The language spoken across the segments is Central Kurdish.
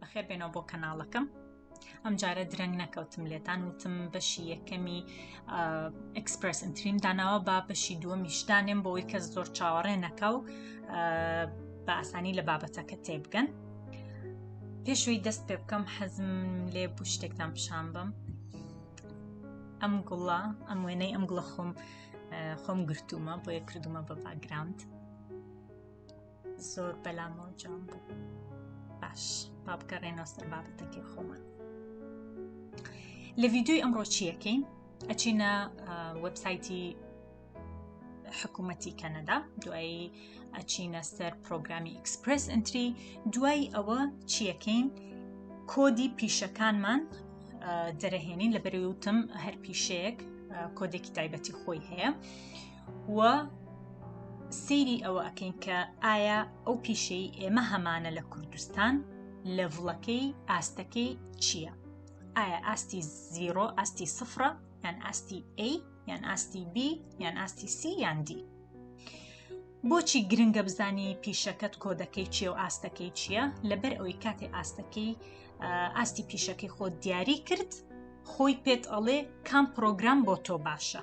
بەخێر بێنەوە بۆ کەناڵەکەم ئەم جارە درەنگ نەکەوتم لێتان وتم بەشی یەکەمی ئەکسپرس ئەتریم داناوە با بەشی دووە میشتانێم بۆی کەس زۆر چاوەڕێ نەکە و بە ئاسانی لە بابەتەکە تێبگەن پێشوی دەست پێ بکەم حەزم لێ بوو شتێکتان پیشان بم ئەم گوڵە ئەم وێنەی ئەم گوڵە خۆم خۆم گرتومە بۆیە کردومە بە باگراند زۆر بەلامەوە جوان بوو باش با بگەڕێنەوە سەر بابەتەکەی خۆمان لە ڤیددیوی ئەمڕۆ چیەکەین ئەچینە وەبسایتی حکوومەتی کەنەدا دوایی ئەچینە سەر پرۆگرامی ئیکسپرس ئەتری دوای ئەوە چیەکەین کۆدی پیشەکانمان دەرەهێنین لە بەرەوتم هەر پیشەیەک کۆدێکی تایبەتی خۆی هەیە و سەیری ئەوە ئەکەین کە ئایا ئەو پیشەی ئێمە هەمانە لە کوردستان لە ڤڵەکەی ئاستەکەی چییە؟ ئایا ئاستی زیرۆ ئاستی سفرە یان ئاستی A یان ئاستی B یان ئاستی C یان D. بۆچی گرنگە بزانی پیشەکەت کۆدەکەی چیە و ئاستەکەی چییە لەبەر ئەوی کاتێ ئاستەکەی ئاستی پیشەکەی خۆ دیاری کرد خۆی پێت ئەڵێ کام پرۆگرام بۆ تۆ باشە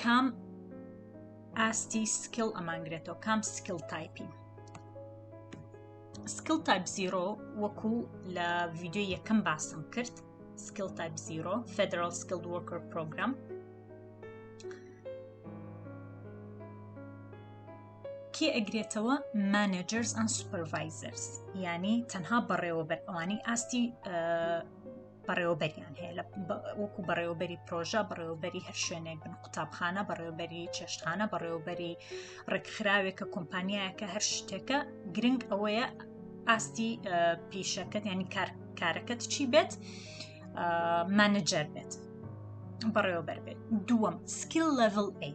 کام ئاستی سکیڵ ئەمانگرێتەوە کام سکیڵ تایپین سکیڵ تایپ زیرۆ وەکو لە ڤیددیو یەکەم باسم کرد سکیڵ تایپ زیرۆ فدرال سکیل وەکر پرۆگرام کێ ئەگرێتەوە مانجرز ئەن سوپەرڤایزرز ینی تەنها بەڕێوەبەر ئەوانی ئاستی بەڕێوەبەریان هەیە لە وەکو بەڕێوەبەری پرۆژە بەڕێوەبەری هەر شوێنێک بن قوتابخانە بەڕێوەبەری چێشتخانە بەڕێوەبەری ڕێکخراوێکە کۆمپانیایەکە هەر شتێکە گرنگ ئەوەیە ئاستی پیشەکەت ینی کارەکەت چی بێت مانجەر بێت بەڕێوەبەر بێت دووەم سکیل لەڤل ئەی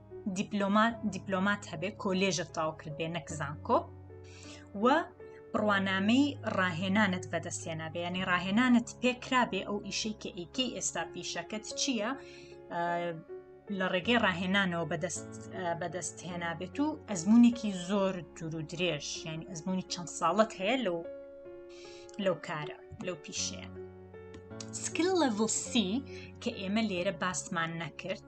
دیپلۆمات دیپلۆمات هەبێ کۆلێژت تاو کردێ نەک زانکۆ و بڕوانامەی ڕاهێنانت بەدەستێنا بەیانی ڕاهێنانت پێکرابێ ئەو ئیشەی کە ئیکەی ئێستا پیشەکەت چییە لە ڕێگەی ڕاهێنانەوە بەدەست بەدەست هێنابێت و ئەزمونێکی زۆر دوور و درێژ یعنی ئەزمموی چەند ساڵت هەیە لەو لەو کارە لەو پیشەیە سکل لەڤڵ سی کە ئێمە لێرە باسمان نەکرد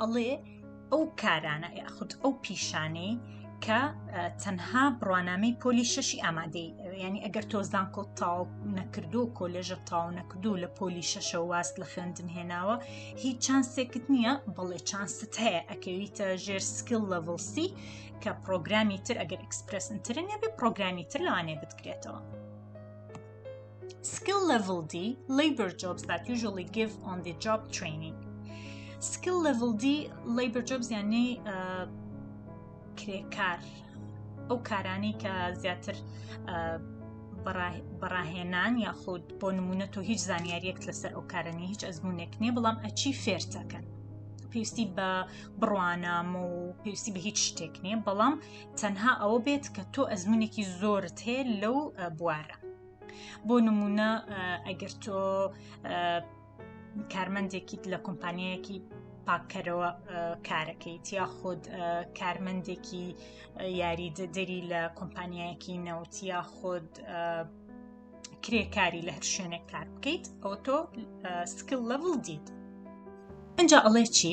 ئەڵێ ئەو کارانە یاخود ئەو پیشانەی کە تەنها بڕوانامەی پۆلی شەشی ئامادەی ینی ئەگەر تۆ زانکۆ تاو نەکردو کۆلێژە تاو نەکردو لە پۆلی شەشە واست لە خوێندن هێناوە هیچ چانسێکت نییە بەڵێ چانست هەیە ئەکەویتە ژێر سکیل لەڤڵسی کە پرۆگرامی تر ئەگەر ئەکسپرسنترن نەبێ پرۆگرامی تر لەوانێ بتکرێتەوە. Skill Level D Labor Jobs that usually give on the job training Skill Level D Labor Jobs یعنی کرێکار ئەو کارانەی کە زیاتر بەڕاهێنان یاخود بۆ نمونە تۆ هیچ زانیاریەک لەسەر ئەو کارەنی هیچ ئەزمونێک نیە بەڵام ئەچی فێرتەکەن پێویستی بە بڕوانامە و پێویستی بە هیچ شتێک نییە بەڵام تەنها ئەوە بێت کە تۆ ئەزمونێکی زۆرت هەیە لەو بوارە بۆ نمونە ئەگەر تۆ کارمەندێکیت لە کۆمپانیەکی پاککەرەوە کارەکەیت یا خود کارمەندێکی یاری دەدەری لە کۆمپانیایەکی نەوت یا خود کرێکاری لە هەر شوێنێک کار بکەیت ئەو تۆ سکل لەڤڵ دیت اینجا ئەڵێ چی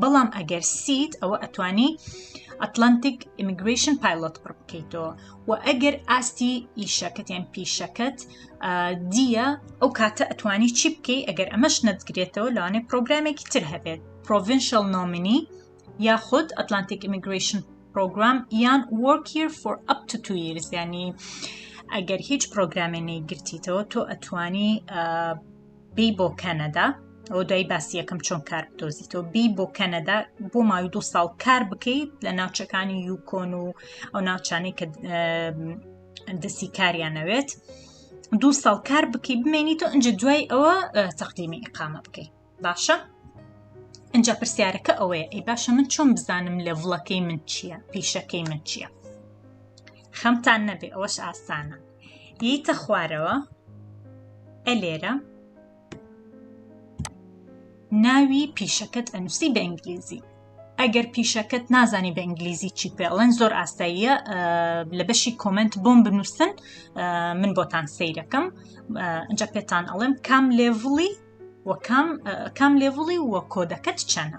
بەڵام ئەگەر سیت ئەوە ئەتوانی ئەتلانتیک ئیمیگریشن پایلۆت پڕ بکەیتەوە و ئەگەر ئاستی ئیشەکەت یان پیشەکەت دیە ئەو کاتە ئەتوانی چی بکەی ئەگەر ئەمەش نەتگرێتەوە لەوانێ پرۆگرامێکی تر هەبێت پرۆڤنشل نۆمنی یاخود ئەتلانتیک ئیمیگریشن پرۆگرام یان وەکیر فۆر ئەپ تو تو یرز ینی ئەگەر هیچ پرۆگرامێ نەیگرتیتەوە تۆ ئەتوانی بی بۆ کەنەدا ئەوە دوای باسی یەکەم چۆن کار بدۆزیتەوە بی بۆ کەنەدا بۆ ماوی دو ساڵ کار بکەیت لە ناوچەکانی یوکۆن و ئەو ناوچانەی کە دەستی کاریان نەوێت دو ساڵ کار بکەی بمێنیت و ئەجا دوای ئەوە تەقدیمی ئقامە بکەیت باشە ئەجا پرسیارەکە ئەوەیە ئەی باشە من چۆن بزانم لە ڤڵەکەی من چییە پیشەکەی من چییە خەمتان نەبێ ئەوەش ئاسانە یەیتە خوارەوە ئە لێرە ناوی پیشەکەت ئەنووسی بە ئینگلیزی ئەگەر پیشەکەت نازانی بە ئینگلیزی چی پێڵێن زۆر ئاساییە لە بەشی کۆمنت بۆم بنووسن من بۆتان سیرەکەم ئەجا پێتان ئەڵێم کام لێڤڵی وەکام کام لێڤڵی وە کۆدەکەت چەنە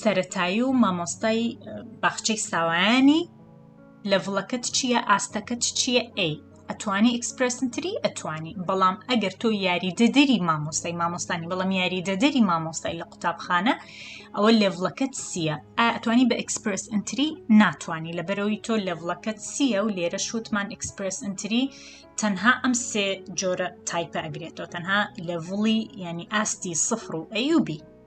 سەرەتایی و مامۆستای باخچەی ساوایانی لەڤڵەکەت چییە ئاستەکەت چییە ئەی ئەتوانی ئیکسپرسنتری ئەتوانی بەڵام ئەگەر تۆ یاری دەدەری مامۆستای مامۆستانی بەڵام یاری دەدەری مامۆستای لە قوتابخانە ئەوە لێڤڵەکەت سیە ئەتوانی بە ئەکسپرس ئەتری ناتوانانی لە بەرەوەی تۆ لێڤڵەکەت سیە و لێرە شوتمان ئەکسپرس ئەتری تەنها ئەم سێ جۆرە تایپە ئەگرێتەوە تەنها لەڤڵی ینی ئاستی سفر و ئەیوبی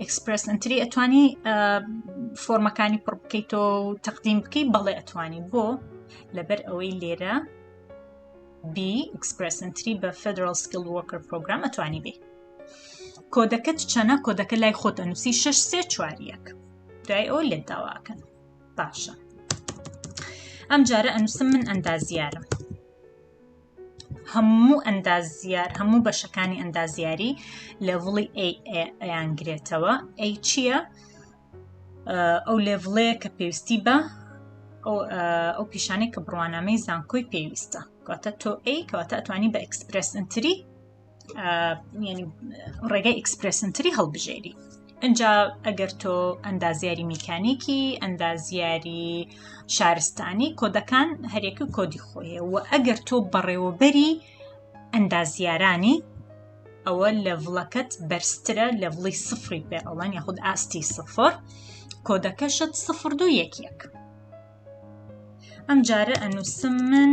ئەکسپرس ئەنتری ئەتوانی فۆرمەکانی پڕ بکەیتەوە و تەقدیم بکەی بەڵێ ئەتوانی بۆ لەبەر ئەوەی لێرە بی ئەکسپرس ئەنتری بە فدرال سکیل وکر پرۆگرام ئەتوانی بێ کۆدەکەت چەنە کۆدەکە لای خۆت ئەنووسی 6 سێ چواریەک دوای ئەو لێت داواکەن باشە ئەم جارە ئەنووسم من ئەندازیارم هەموو ئەندازیار هەموو بەشەکانی ئەندازیاری لێڤڵی ئەیان گرێتەوە ئەی چییە ئەو لێڤڵەیە کە پێویستی بە ئەو پیشانەی کە بڕوانامەی زانکۆی پێویستە کەواتە تۆ ئەی کەواتە ئەتوانی بە ئەکسپرس ئەتری ینی ڕێگەی ئیکسپرسنتری هەڵبژێری ئەجا ئەگەر تۆ ئەندازیاری میکانیکی ئەندازیاری شارستانی کۆدەکان هەرێکی کۆدی خۆیە و ئەگەر تۆ بەڕێوەبەری ئەندازیارانی ئەوە لەڤڵەکەت بەرزترە لە ڤڵی سفری پێ ئەڵەن یاخود ئاستی سفر کۆدەکەشت سفر دو یەک یەک ئەم جارە ئەنووسم من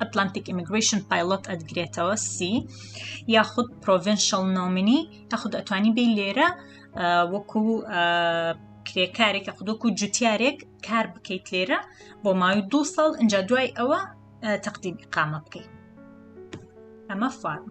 ئەتلانتیک ئیمیگریشن پایلۆت ئەدگرێتەوە سی یاخود پرۆڤنشل نۆمنی تاخود ئەتوانی بی لێرە وەکو کرێکارێک خودۆکو جوتیارێک کار بکەیت لێرە بۆ ماوی دو ساڵ ئەجا دوای ئەوە تەقدیم قامە بکەیت ئەمە فارم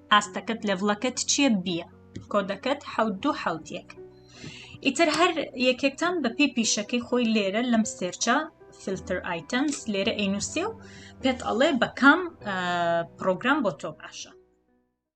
ئاستەکەت لەڤڵەکەت چیە بیە کۆدەکەت حەوت دوو حەوت یەک ئیتر هەر یەکێکتان بەپی پیشەکەی خۆی لێرە لەم سێرچە فلتر ئایتەمس لێرە ئەینوسێ و پێت ئەڵێ بەکام پرۆگرام بۆ تۆ باشە